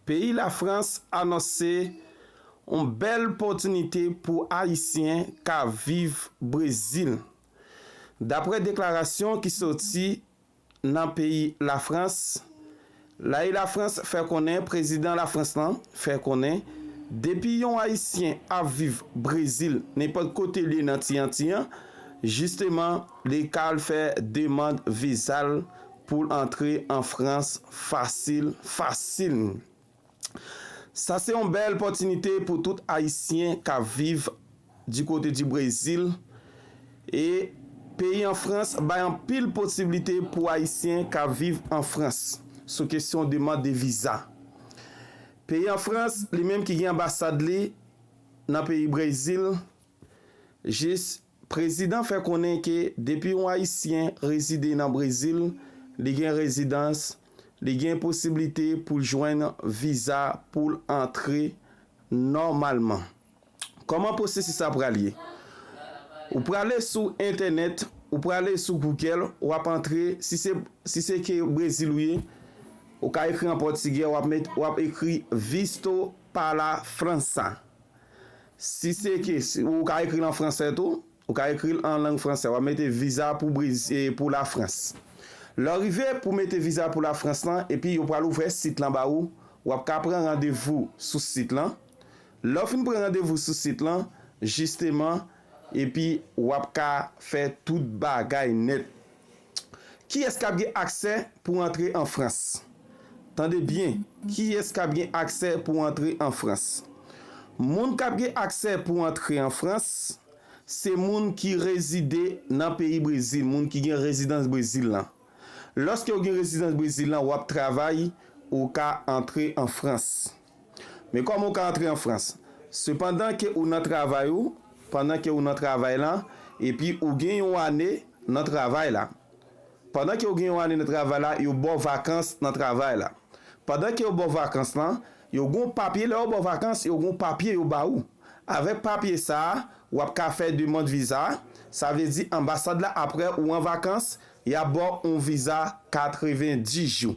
Peyi Lafrans anonse yon bèl pòtinite pou Ayisyen ka viv Brezil. Daprè deklarasyon ki sòti nan peyi Lafrans, Lai Lafrans fè konnen prezidan Lafrans lan fè konnen depi yon Ayisyen ap viv Brezil nenpòt kote l ye nan ti Anti an, jisteman li ka al fè demand viza l Poul antre an France fasil fasil. Sa se yon bèl pòtinite pou tout ayisyen kap viv di kote di Brezil e peyi an France bay anpil posiblite pou ayisyen kap viv an France sou kesyon demand de viza. Peyi an France li menm ki gen anbasad li nan peyi Brezil jis Prezidan fè konnen ke depi yon Ayisyen rezide nan Brezil, li gen rezidans, li gen posiblite pou l jwenn viza pou l antre nòmalman. Kòman pwosesis la pral ye? Ou prale sou entènèt, ou prale sou Google, w ap antre, si se si se ke Brezil ou ye, ou ka ekri an pòtigè, w ap met, w ap ekri Visto para França. Si se ke, ou ka ekri l an fransè tou, ou ka ekri l an lang fransè, w ap mete viza pou Brezil, pou la Frans. Lè w rive pou mete viza pou la Frans lan, epi yo pral ouvè sit lan ba ou, w ap ka pran randevou sou sit lan. Lè w fin pran randevou sou sit lan, jisteman, epi w ap ka fè tout bagay nèt. Kiyès kap gen aksè pou antre an Frans? Tande byen, kiyès kap gen aksè pou antre an Frans? Moun kap gen aksè pou antre an Frans, se moun ki rezide nan peyi Brezil, moun ki gen rezidans Brezil lan. Lòske ou gen rezidans Brezil lan, wap travay, ou ka antre an Frans. Men kòman ou ka antre an Frans? Sepandan ke ou nan travay ou, pandan ke ou nan travay la, epi ou gen yon ane nan travay la. Pandan ke ou gen yon ane nan travay la, yo ba w vakans nan travay la. Pandan ke yo ba w vakans lan, yo gen yon papye, lè yo ba w vakans, yo gen yon papye yo ba ou. Avèk papye sa a, ou ap ka fè demand viza a, sa vle di anbasad la apre ou an vakans, y ap ba w yon viza 90 jou.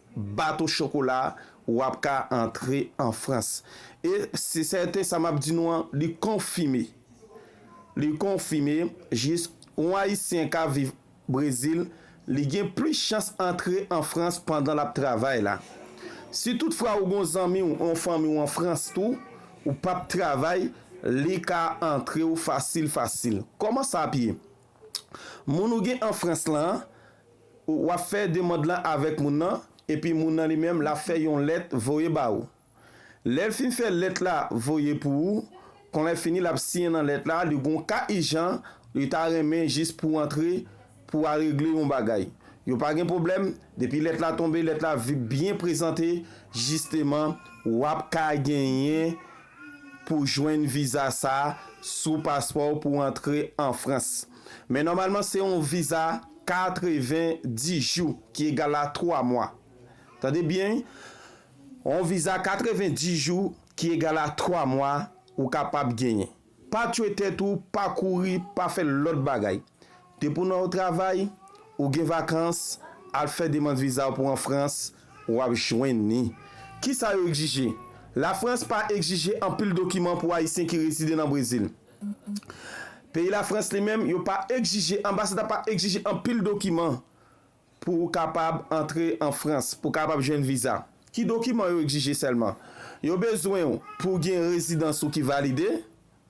bato chokola a ou ap ka antre an Frans. E se sèten sa m ap di nou an li konfime, li konfime jis yon Ayisyen k ap viv Brezil li gen plis chans antre an Frans pandan l ap travay la. Si tout fwa ou gon zanmi w, yon fanmi w an Frans tou, ou p ap travay li ka antre w fasil fasil. Kòman sa ap ye? Moun ou gen an Frans lan, w ap fè demand lan avèk moun nan, epi moun nan li menm l ap fè yon lèt voye ba ou. Lè l fin fè lèt la voye pou ou, kon lè fini l ap siyen nan lèt la li gon ka ijan li ta renmen jis pou antre pou al regle yon bagay. Yo pa gen pwoblèm, depi lèt la tonbe lèt la vip byen prezante jisteman w ap ka genyen pou jwenn viza sa sou paspò w pou antre an Frans. Men nòmalman se yon viza 90 jou ki egal a 3 mwa. Tande byen wi, yon viza 90 jou ki egal a 3 mwa ou kapab genyen. Pa tchwe tèt ou, pa kouri, pa fè lòt bagay. Depi w nan yon travay, ou gen vakans, al fè demand viza w pou an Frans, w ap jwenn li. Kisa yo egzije? La Frans pa egzije anpil dokiman pou Ayisyen ki rezide nan Brezil. Peyi la Frans li menm, yo pa egzije, anbasad la pa egzije anpil dokiman. Pou ou kapab antre an Frans, pou kapab jwenn viza, ki dokiman yo egzije sèlman? Yo bezwen ou pou gen rezidans ou ki valide,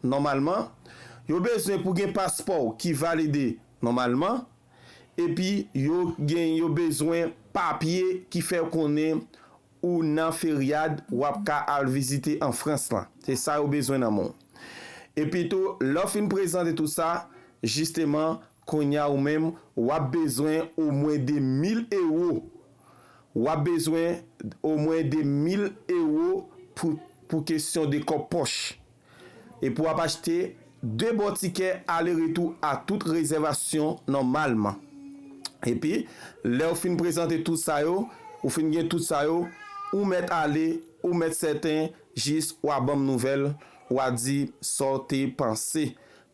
nòmalman. Yo bezwen pou gen paspò ou ki valide, nòmalman. Epi yo gen yo bezwen papye ki fè konnen ou nan feryad w ap ka al vizite an Frans lan. Se sa yo bezwen nan men w. Epitou, lè w fin prezante tout sa, jisteman, Konnya ou menm wap bezwen o mwen 2 mil ewo wap bezwen o mwen 2 mil ewo pou pou kesyon de kòb pòch e pou ap achte 2 bon tikè ale retou a tout rezèvasyon nòmalman epi lèw fin prezante tout sa yo ou fin gen tout sa yo ou mèt ale ou mèt sèten jis wa banm nouvèl wa dim saw te panse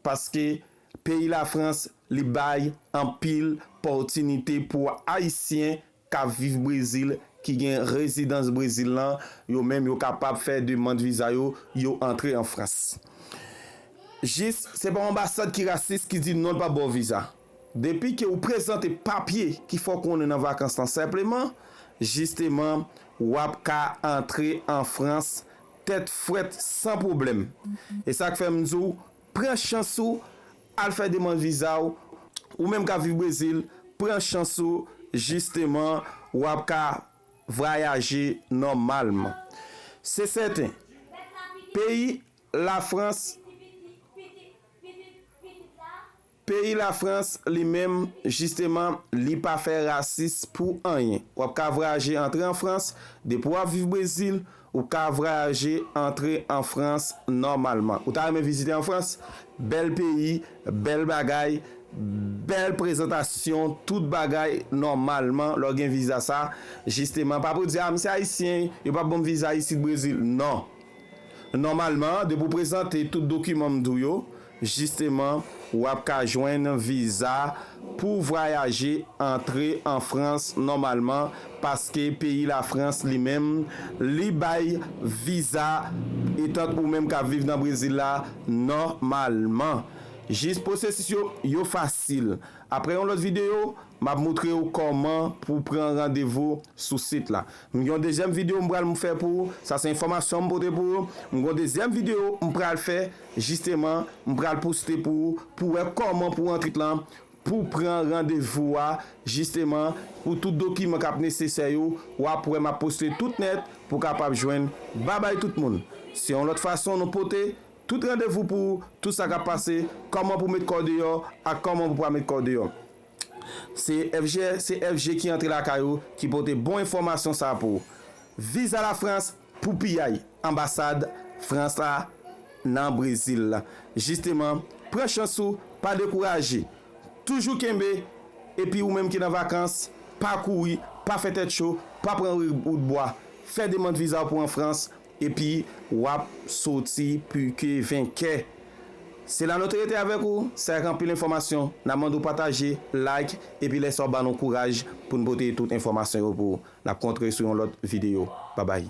paske Peyi Lafrans li bay anpil pòtinite pou Ayisyen k ap viv Brezil ki gen rezidans Brezil lan, yo menm yo kapab fè demand viza yo, yo antre an Frans. Jis se pa anbasad ki rasis ki di non l pa ba w viza. Depi ke ou prezante papye ki fè w konnen nan vakans lan senpleman, jisteman w ap ka antre an Frans tèt frèt san pwoblèm. E sa k fè m di w Pran chans ou al fè demand viza w, ou menm kap viv Brezil pran chans ou jisteman wap ka vwayaje nòmalman. Se sèten peyi la Frans. Peyi la France li menm jisteman li pa fè rasis pou anyen. Wap ka vrayaje antre an France, depi wap viv Brezil ou ka vrayaje antre an France nòmalman. Ou ta renmen vizite an France? Bèl peyi, bèl bagay, bèl prezantasyon, tout bagay nòmalman lè w gen viza sa jisteman. Pa pou di a m se ayisyen yo pap banm viza isit Brezil non. Nòmalman depi w prezante tout dokiman m di w yo. Jisteman, w ap ka jwenn viza pou vwayaje antre an Frans nòmalman paske peyi Lafrans li menm li bay viza etant ou menm k ap viv nan Brezil la nòmalman. Jis pwosesis yo, yo fasil. Aprè yon lòt videyo, m ap moutre w kòman pou w pran randevou sou sit la. M gen yon dezyèm videyo m pral m fè pou ou, sa se enfòmasyon m pote pou ou. M gen yon dezyèm videyo m pral fè. Jisteman m pral poste pou ou pou wè kòman pou antrit lan pou pran randevou a jisteman pou tout dokiman kap nesesè yo wap wè map poste tout nèt pou kapab jwenn babay tout moun se yon lòt fason nou pote tout randevou pou tout sa kap pase kòman pou met kòw deyò ak kòman pou pa met kòw deyò se FGFG ki antre lakay ou ki pote bon enfòmasyon sa pou viza la France. Pou piyay anbasad frans la nan brezil la jisteman pran chans ou pa dekouraje toujou kenbe epi ou menm ki nan vakans pa kouri pa fè tèt cho pa pran wout bwa fè demand viza pou an frans epi wap soti pike venkè. Se la nou te rete avèk ou, se ak anpil enfòmasyon, nap mande w pataje, like, epi lè sa w ban nou kouraj pou n pote tout enfòmasyon yo pou ou. Nap kontre sou yon lòt videyo. Babay.